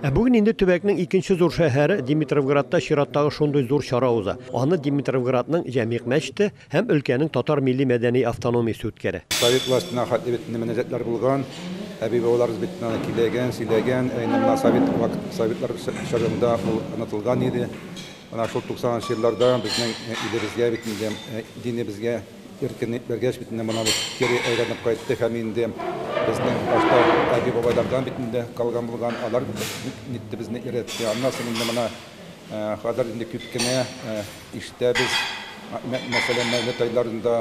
Ә бүген инде төбәкнең икенче зур шәһәре Димитровградта чираттагы шундый зур чара уза. Аны Димитровградның Җәмигъ мәчете һәм өлкәнең татар милли-мәдәни автономиясе үткәрә. Совет властена хәтле бит инде мөнәҗәтләр булган. Әби-бабаларыбыз бит аны көйләгән, сөйләгән. Ә инде менә совет вакыт, советлар чорында ул онытылган иде. Менә шул 90 нчы елларда безнең илебезгә бит инде, динебезгә, Иркен биргәч бит инде монабыз кире әйләнеп кайтты һәм инде безнең башта әби-бабайлардан бит инде калган булган, алар нитте безне өйрәтте. Аннан соң инде менә хәзер инде күп кенә ишетәбез, мәсәлән, мәүлет айларында,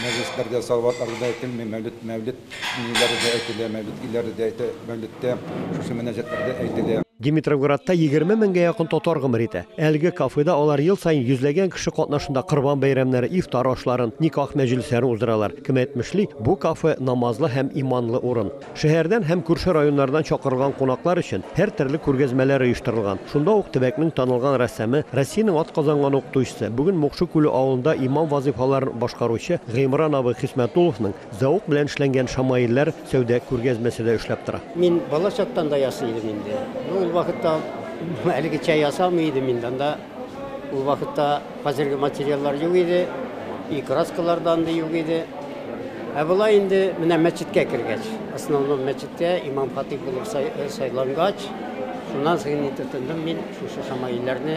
мәҗлесләрдә, салаватларда да әйтелми, мәүлет, мәүлет Миниләре дә әйтелә, мәүлидлиләре дә әйтә, мәүлидтә шушы мөнәҗәтләр дә әйтелә. Димитровградта егерме меңгә якын татар гомер итә. Әлеге кафеда алар ел саен йөзләгән кеше катнашында корбан бәйрәмнәре, ифтар ашларын, никах мәҗлесләрен уздыралар. Кем әйтмешли, бу кафе, намазлы һәм иманлы урын. Шәһәрдән һәм күрше районнардан чакырылган кунаклар өчен һәртөрле күргәзмәләр оештырылган. Шунда ук төбәкнең танылган рәссамы, Россиянең атказанган укытучысы, бүген Мукшы Күле авылында имам вазыйфаларын башкаручы Гыймран абый Хисмәтулловның, Зәвык белән эшләнгән шамаилләр сәүдә күргәзмәсе дә эшләп тора. Мин бала чактан да ясый идем инде. Ул вакытта әлегечә ясамый идем инде. Анда ул вакытта хәзерге материаллар юк иде, и краскалар да андый юк иде. Ә болай инде менә мәчеткә кергәч, основном мәчеткә имам-хатыйп булып сайлангач, шуннан соң инде тотындым мин шушы шамаилләрне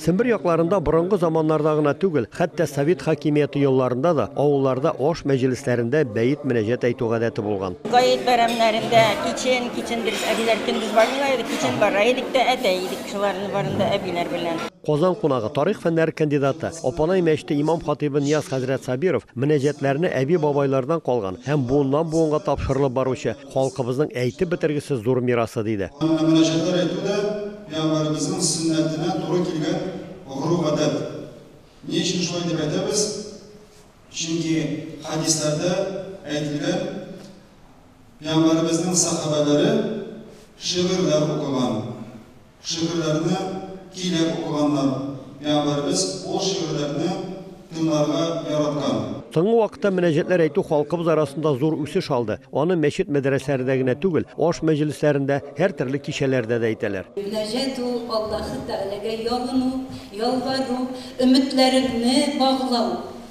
Сембер якларында борынгы заманнарда гына түгел, хәтта совет хакимияте елларында да авылларда аш мәҗлесләрендә бәет-мөнәҗәт әйтү гадәте булган. Гает бәйрәмнәрендә кичен, кичен дигез, әбиләр көндез бармыйлар иде, кичен бара идек тә әтә идек шуларны барын да әбиләр белән. Казан кунагы, тарих фәннәре кандидаты, Апанай мәчете имам-хатыйбы Нияз хәзрәт Сабиров мөнәҗәтләрне әби-бабайлардан калган һәм буыннан-буынга тапшырылып баручы Халкыбызның әйтеп бетергесез зур мирасы, диде. Анда мөнәҗәтләр әйтү дә пәйгамбәребезнең сөннәтенә туры килгән гореф-гадәт. Ни өчен шулай дип әйтәбез? Чөнки хәдисләрдә әйтелгән, пәйгамбәребезнең сәхабәләре шигырьләр укыган, Шигырьләрне тиле укыганнар, миабәребез ул шигырьләрне тыңларга яраткан. Соңгы вакытта мөнәҗәтләр әйтү халкыбыз арасында зур үсеш алды. Аны мәчет-мәдрәсәләрдә генә түгел, аш мәҗлесләрендә, һәртөрле кичәләрдә дә әйтәләр. Мөнәҗәт ул, Аллаһы Тәгаләгә ялыну, ялвару, өметләреңне баглау.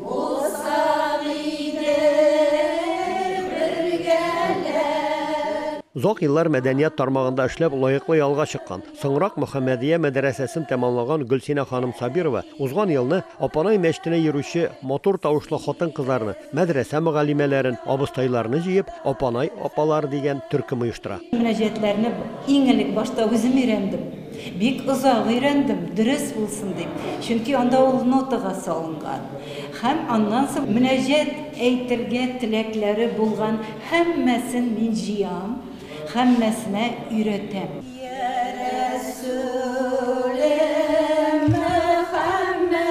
Булсак иде бергәләп. Озак еллар мәдәният тармагында эшләп, лаеклы ялга чыккан, соңрак Мөхәммәдия мәдрәсәсен тәмамлаган Гөлсинә ханым Сабирова узган елны Апанай мәчетенә йөрүче матур тавышлы хатын-кызларны, мәдрәсә мөгаллимәләрен, абыстайларны җыеп, Апанай апалар дигән төркем оештыра. Мөнәҗәтләрне иң элек башта үзем өйрәндем. Бик озак өйрәндем, дөрес булсын дип, чөнки анда ул нотага салынган. Һәм аннан соң мөнәҗәт әйтергә теләкләре булган һәммәсен мин җыям, һәммәсенә өйрәтәм. Йә Рәсүлем Мөхәммәд.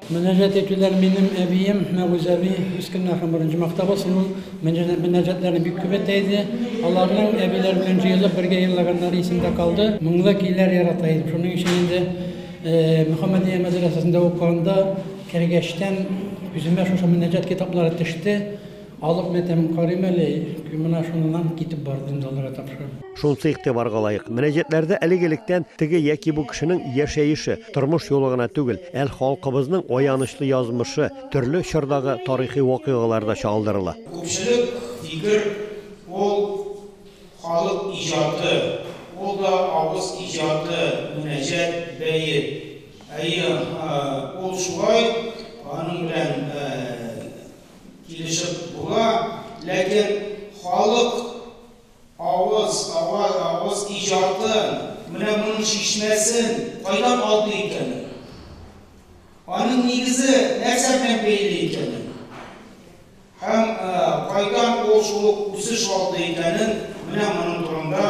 Мөнәҗәт итүләр минем әбием Мәгүз әби Мескеннәр һәм беренче мактабы сынын мөнәҗәтләрне бик күп әйтә иде. Аларның әбиләр белән җыелып бергә елаганнары исемдә калды. Моңлы көйләр ярата идем. Шуның өчен инде Мөхәммәдия мәдрәсәсендә укыганда кергәчтән күземә шушы мөнәҗәт китаплары төште. Алып менә тәмам карыйм әле, менә шуннан китеп бардым залга тапшырып. Шунсы игътибарга лаек, мөнәҗәтләрдә элек-электән теге яки бу кешенең яшәеше, тормыш юлы гына түгел, әл халкыбызның аянычлы язмышы, төрле чордагы тарихи вакыйгалар да чагылдырыла. Күпчелек фикер, ул халык иҗаты, ул да авыз иҗаты, мөнәҗәт, бәет. Әйе, ул шулай, аның белән Килешеп була, ләкин халык авыз, аваз, авыз иҗатын, менә моның чишмәсен кайдан алды икән ул? Аның нигезе нәрсә белән бәйле икәнен һәм кайдан ул шул ук үсеш алды икәнен, менә моның турында,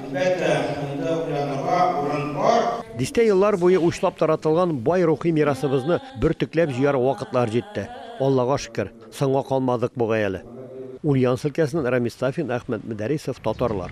әлбәттә, инде уйланырга урын бар. Дистә еллар буе учлап таратылган бай рухи мирасыбызны бөртекләп җыяр вакытлар җитте. Аллага шөкер, соңга калмадык бугай әле. Ульяновск өлкәсеннән Рамис Сафин, Әхмәт Мөдәрисов, татарлар.